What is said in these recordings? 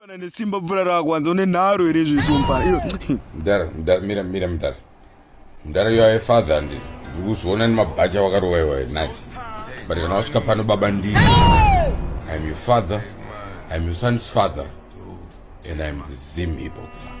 Kana nesimba bvura rako hanzi une nharo here zvisumpa. Mdara, mdara mira mira mdara. Mdara you are a father and ndikuzoona nemabhacha wakarova iwaye nice. But kana wasvika pano baba ndini. I am your father. I am your son's father. And I am the Zim hip hop father.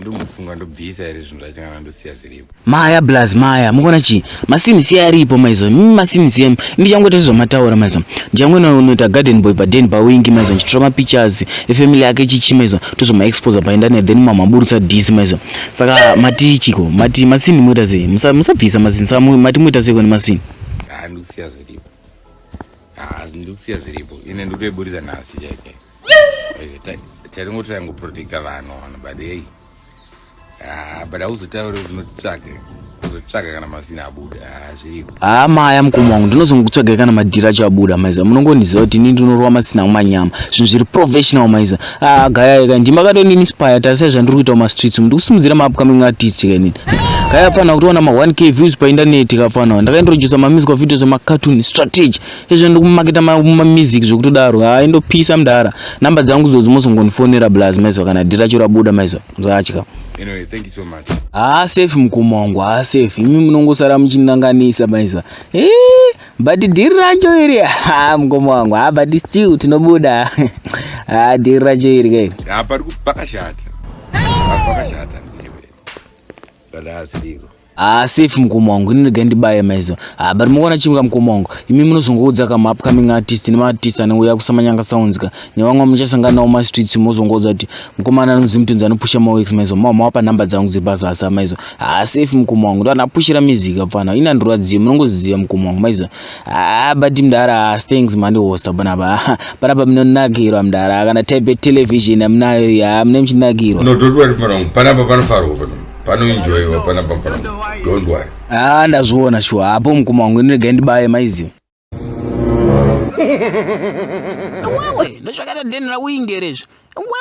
ndomufunga ndobvisa here zvinhu zvacho kana ndosiya zviripo maya blaz maya mukuona chii masinisiya aripo maizo mm, masinisiya ndichangoita sezvamataura maizo ndichangona unoita garden boy paden pawingi maizo ndichitora mapictures efamily yake chichi maizo tozomaexposa paindaneti then mamaburutsa disi maizo saka mati chiko mati masini moita sei musabvisa masini saka mati moita sei kone masini ndikusiya zviripo ndikusiya zviripo ine ndikutoiburitsa nhasi chaike taringoti taingoprotecta vanhu vanhu but hei ah, but hauzotaure kuti unotsvage uzotsvaga kana mazina abuda ah, zviriko haa ah, maya mukoma wangu ndinozongotsvagai kana madhiri acho abuda maiza munongondiziva kuti ini ndinorova masina kumanyama zvinhu zviri professional maiza haa gayai kai ndimakatoninspire tarisai zvandiri kuita mumastreets umu ndikusimudzira maupcoming artist kainini gayai apfanira kutoona ma 1 k views paindaneti kapfanira ndakaintrodusa mamizi kwa videos emacartoon strategy izvo ndikumaketa mumamizik zvekutodaro haa indopisa mdara number dzangu dzodzi mozongondifonera blaz maiziva kana dhira chero abuda maiziva mzatya Anyway, thank you so much. Haa safe mkoma wangu, haa safe. Imi munongosara muchinanganisa maiza. Eh, but dhiri racho iri. Haa mkoma wangu, haa but still tinobuda. Haa dhiri racho iri kai. Haa pari pakashata. Pakashata. Dada asiriko. Ah, safe mukoma wangu ini ndega ndibaye maizo ah, but mukuona chimwe kamukoma wangu imi munozongoudza kama upcoming artist nemaartist anouya kusamanyanga sounds ka nevamwe muchasangana nawo mastreets mozongoudza kuti mukomana anonzi mutunzi anopusha mawex maizo mama wapa nhamba dzangu dziri pasasa maizo ah, safe mukoma wangu ndoanapushira music apfana ini andirwadziyo munongoziva mukoma wangu maizo ah, but mdara ah, thanks mandi hosta panapa ah, panapa munonakirwa mdara kana type television amunayo ya mune muchinakirwa no don't worry mwana wangu panapa panofarwa panapa panoenjoyiwa pana bafana don't worry ah ndazviona shuwa hapo mukoma wangu ndinoregai ndibaye maiziva wewe ndozvakata deni rauingerezvo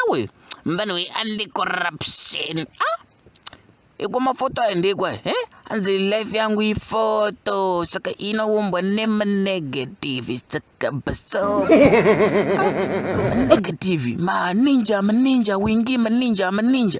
wewe mvana we anti corruption ah ikwa mafoto ayo ndekwa he eh? anzi life yangu ifoto saka inoumbwa nemanegative saka baso negative maninja maninja wingi maninja maninja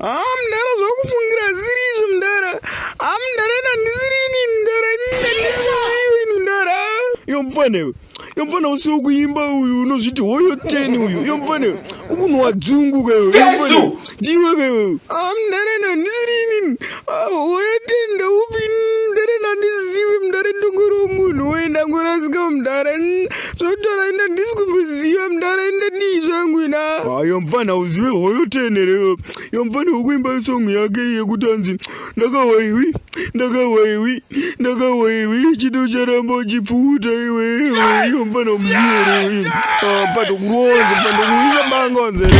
Ah, mdara zvakufungira haziri izvo mdara. Ah, mdara ina ndisiri ini mdara. Ndisiri ini mdara. Yo mfana iwe. Yo mfana usiwo kuimba uyu unozviti hoyo 10 uyu. Yo mfana iwe. Ukunwa dzungu ka iwe. Jesu! Ndiwe ka iwe. Ah, mdara ina ndisiri ini. wetenda upi mdare nandizivi mdare ndongori womunhu woenda ngorasika mdare zvotora enda ndisi kumboziva mdare enda dii zvangu ina hayo mfana uzive hoyo tenere yo mfana wokuimba isongi yake yekuti anzi ndakawaiwi ndakawaiwi ndakawaiwi chiti ucharamba uchipfuuta iwe yo mfana umzive mfana kuronza mfana kuisa banga wanzere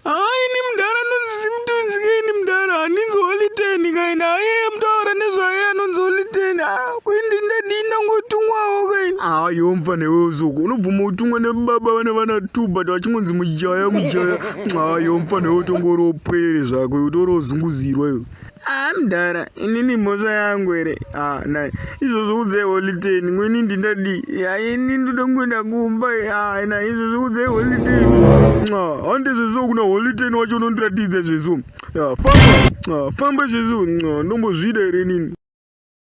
Haa ini mdara anonzi Symptoms ke ini mdara handinzi Holy Ten kaini aye mtaura nezvaye anonzi Holy Ten haa kuindi ndadii ndangotungwawo kaini. Haa iwe mfana iwe uzuku unobvuma utungwa nebaba vane vana two but vachingonzi mujaya mujaya. Haa iwe mfana iwe utongoropwere zvako iwe utorozunguzirwa iwe. haa mdara inini mhosva yangu here haa nai izvozvo udzai holiteni ngweni ndindadii yaa ini ndoda kungoenda kumba haa nai izvozvo udzai holiteni hande zveso kuna holiteni wacho unondiratidza zveso famba famba zveso ndombozvida here inini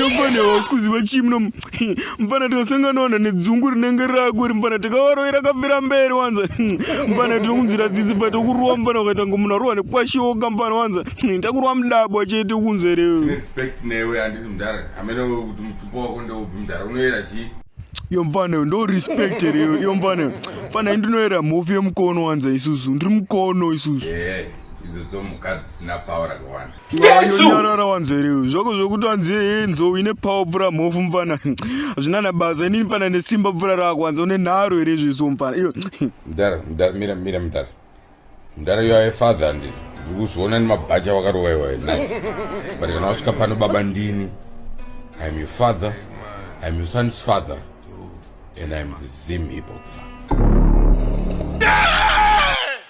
yamfana hausi kuziva chii muno mfana tikasangana wana nedzungu rinenge rako ri mfana tikawaroira kafira mberi wanza mfana tinokunzira dzidzi bva tokuruwa mfana ukaita ngo munhu arohwa nekwashiwoka mfana wanza takuruwa mudabwa chete kunze rewenewe anditi mudhara amene kuti mutupo wako ndeupi mudhara unoyera chii iyo mfana ndo respect here iyo iyo mfana mfana indinoyera mhofu yemukono wanza isusu ndiri mukono isusu idzo dzomhuka dzisina pawa rakawanda jesunyarara wanzwa here uyu zvako zvokuti wanzi hee nzou ine pawa pfura mhofu mupfana hazvina na basa inini pfana nesimba pfura rako wanza une nharo here zviso mupfana iyo mdara mdara mira mira mdara mdara yo aefather andi ndiri kuzviona nemabhachi awakarowaiwa nice but kana wasvika pano baba ndini iam your father iam your son's father and iam the zim hip hop father